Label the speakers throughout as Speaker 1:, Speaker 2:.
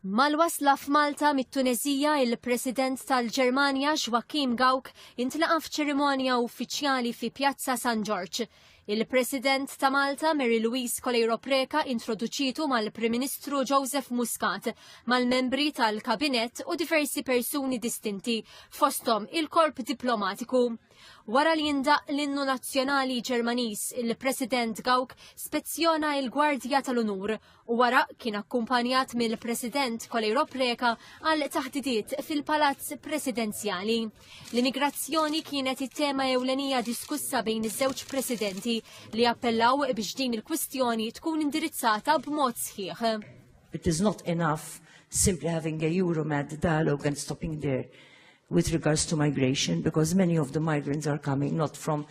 Speaker 1: Mal-wasla f'Malta mit-Tuneżija il-President tal-Ġermanja Joachim Gawk intlaqa' f'ċerimonja uffiċjali fi Pjazza San Ġorġ. Il-President ta' Malta Mary Louise Coleiro Preca introduċitu mal-Prim Ministru Joseph Muscat, mal-membri tal-Kabinett u diversi persuni distinti, fosthom il-korp diplomatiku. Wara li jindaq l-innu nazzjonali Ġermaniż, il-President Gawk spezzjona il-Gwardja tal-Unur u wara kien akkumpanjat mill-President Kolejro Preka għal taħdidiet fil-Palazz Presidenzjali. L-immigrazzjoni kienet it-tema ewlenija diskussa bejn iż-żewġ presidenti li appellaw biex din il-kwistjoni tkun indirizzata b'mod sħiħ. It is not
Speaker 2: enough simply having a Euromed dialogue and stopping there with regards to migration because many of the migrants are coming not from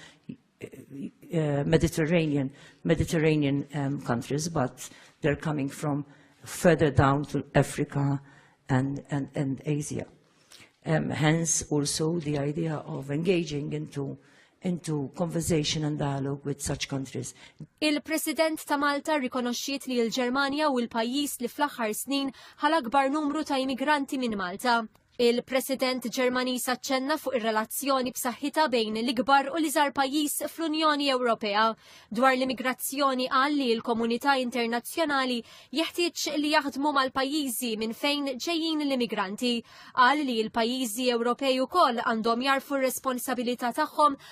Speaker 2: uh, Mediterranean, Mediterranean um, countries, but they're coming from further down to Africa and, and, and Asia. Um, hence, also the idea of engaging into into conversation and dialogue with such countries. Il-President
Speaker 1: ta' Malta rikonoxxiet li l-Ġermanja u l-pajjiż li fl-aħħar snin ħal akbar numru ta' immigranti minn Malta. Il-President Ġermaniż aċċenna fuq ir-relazzjoni b'saħħitha bejn l-ikbar u l-iżgħar pajjiż fl-Unjoni Ewropea. Dwar l-immigrazzjoni qal li l-komunità internazzjonali jeħtieġ li jaħdmu mal-pajjiżi minn fejn ġejjin l-immigranti. Qal li l-pajjiżi Ewropej ukoll għandhom jarfu r-responsabilità tagħhom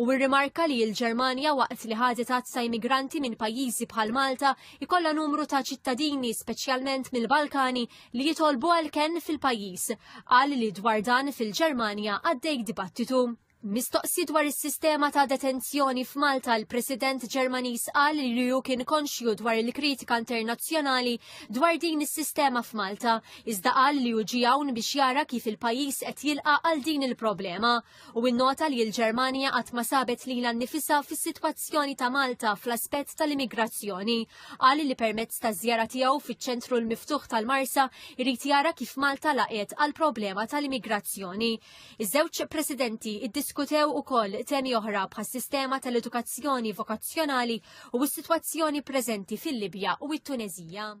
Speaker 1: u rrimarka li l-Ġermanja waqt li ħadet għadd ta' immigranti minn pajjiżi bħal Malta jkollha numru ta' ċittadini speċjalment mill-Balkani li jitolbu għal kenn fil-pajjiż. Qal li dwar dan fil-Ġermanja għaddej dibattitu. Mistoqsi dwar is-sistema ta' detenzjoni f'Malta l-President Ġermaniż qal li hu kien konxju dwar il-kritika internazzjonali dwar din is-sistema f'Malta iżda qal li hu ġie hawn biex jara kif il-pajjiż qed jilqa' għal din il-problema u nnota li l-Ġermanja qatt ma sabet lilha nnifisha fis-sitwazzjoni ta' Malta fl-aspett tal-immigrazzjoni. Qal li permezz taż-żjara tiegħu fiċ-Ċentru l-Miftuħ tal-Marsa jrid jara kif Malta laqgħet għall-problema tal-immigrazzjoni. Iż-żewġ Presidenti ddiskutew ukoll temi oħra bħas-sistema tal-edukazzjoni vokazzjonali u s-sitwazzjoni preżenti fil-Libja u t-Tuneżija.